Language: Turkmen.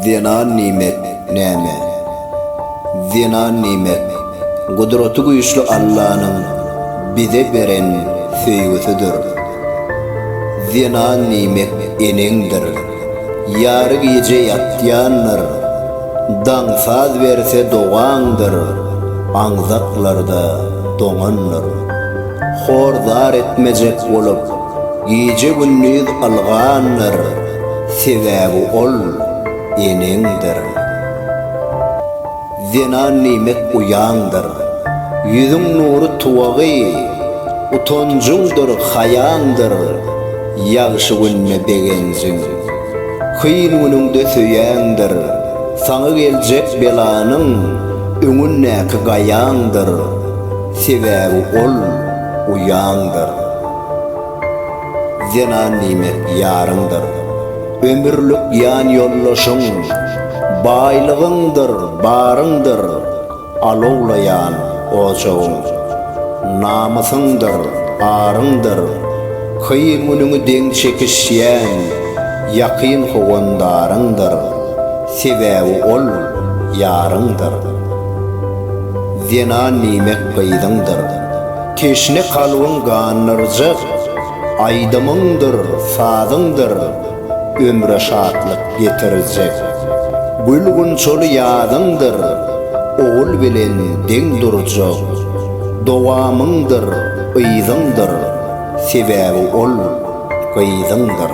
Zenan nimet, näme? Zenan nimet, Gudraty güýçli Allanyň bize beren söýgüsidir. Zenan nimet eneňdir. Ýary gije ýatýandyr. Daň saz berse dogaňdyr. Aňzaklarda doňandyr. Hor zar etmejek bolup. Gije-gündiz ylgandyr, sebäbi ol, eneňdir. Zenan niýmek uýaňdyr, ýüzüň nury tuwagy, utanjyňdyr, haýaňdyr, ýagşy günde begenjiň. Kyn günüňde söýeňdir, saňa geljek belanyň öňündäki gaýaňdyr, sebäbi ol, uýaňdyr. Zenan diýmek ýaryňdyr. Ömürlik ýanýoldaşyň, Baýlygyňdyr, baryňdyr, Alowlaýan ojagyň. Namysyňdyr, aryňdyr, Kyn günüňi deň çekişýän, Ýakyn howandaryňdyr, Sebäbi ol ýaryňdyr. Zenan diýmek gyzyňdyr. Teşne kalbyň gandyrjak aýdymyňdyr, sazyňdyr ömre şatlyk getirjek. Gül-gunçaly ýazyňdyr ogul bilen deň durjak. Dowamyňdyr yzyňdyr, sebäbi ol gyzyňdyr.